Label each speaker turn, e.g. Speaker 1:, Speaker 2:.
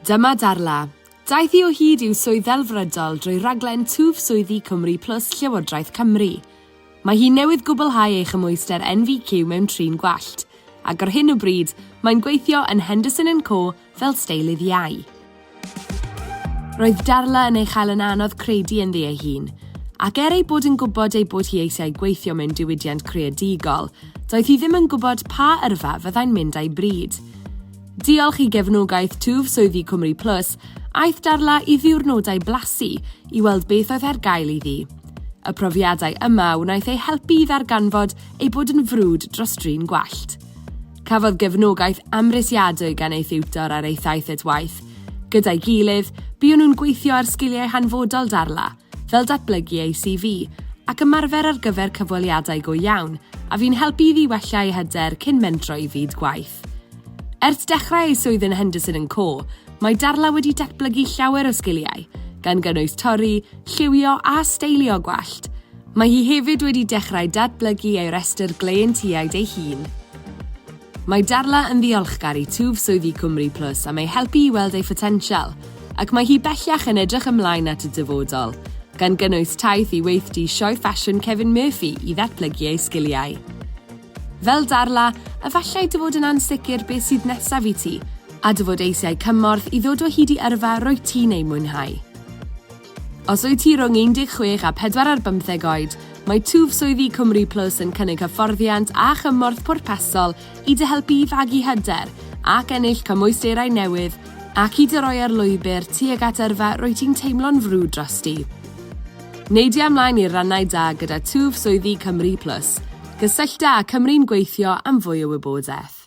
Speaker 1: Dyma Darla. Daeth hi o hyd i'w swydd ddelfrydol drwy raglen Twf Swyddi Cymru Plus Llywodraeth Cymru. Mae hi newydd gwblhau ei chymhwyster NVQ mewn trin gwallt, ac ar hyn o bryd, mae'n gweithio yn Henderson and Co fel steilydd iau. Roedd Darla yn ei chael yn anodd credu ynddi ei hun, ac er ei bod yn gwybod ei bod hi eisiau gweithio mewn diwydiant creadigol, doedd hi ddim yn gwybod pa yrfa fyddai'n mynd â'i bryd. Diolch i gefnogaeth twf swyddi Cymru Plus, aeth Darla i ddiwrnodau blasu i weld beth oedd ar gael iddi. Y profiadau yma wnaeth ei helpu i ddarganfod ei bod yn frwd dros drin gwallt. Cafodd gefnogaeth amhrisiadwy gan ei thiwtor ar ei thaith at waith. Gyda'i gilydd, buon nhw'n gweithio ar sgiliau hanfodol Darla, fel datblygu ei CV, ac ymarfer ar gyfer cyfweliadau go iawn, a fu'n helpu iddi wella ei hyder cyn mentro i fyd gwaith. Ers dechrau ei swydd yn Henderson and Co, mae Darla wedi datblygu llawer o sgiliau, gan gynnwys torri, lliwio a steilio gwallt. Mae hi hefyd wedi dechrau datblygu ei restr gleientiaid ei hun. Mae Darla yn ddiolchgar i twf swyddi Cwmri Plus am ei helpu i weld ei photensial, ac mae hi bellach yn edrych ymlaen at y dyfodol, gan gynnwys taith i weithdy Sioe Ffasiwn Kevin Murphy i ddatblygu ei sgiliau. Fel Darla, efallai dy fod yn ansicr beth sydd nesaf i ti, a dy fod eisiau cymorth i ddod o hyd i yrfa rwyt ti'n ei mwynhau. Os wyt ti rhwng 16 a 4 ar bymtheg oed, mae twf swyddi Cymru Plus yn cynnig hyfforddiant a chymorth pwrpasol i dy helpu i fagu hyder ac ennill cymwysterau newydd ac i dy roi ar lwybr tuag at yrfa rwyt ti'n teimlo'n frwd drosti. Neidia ymlaen i'r rannau da gyda twf swyddi Cymru Plus. Cysyllta â Cymru'n Gweithio am fwy o wybodaeth.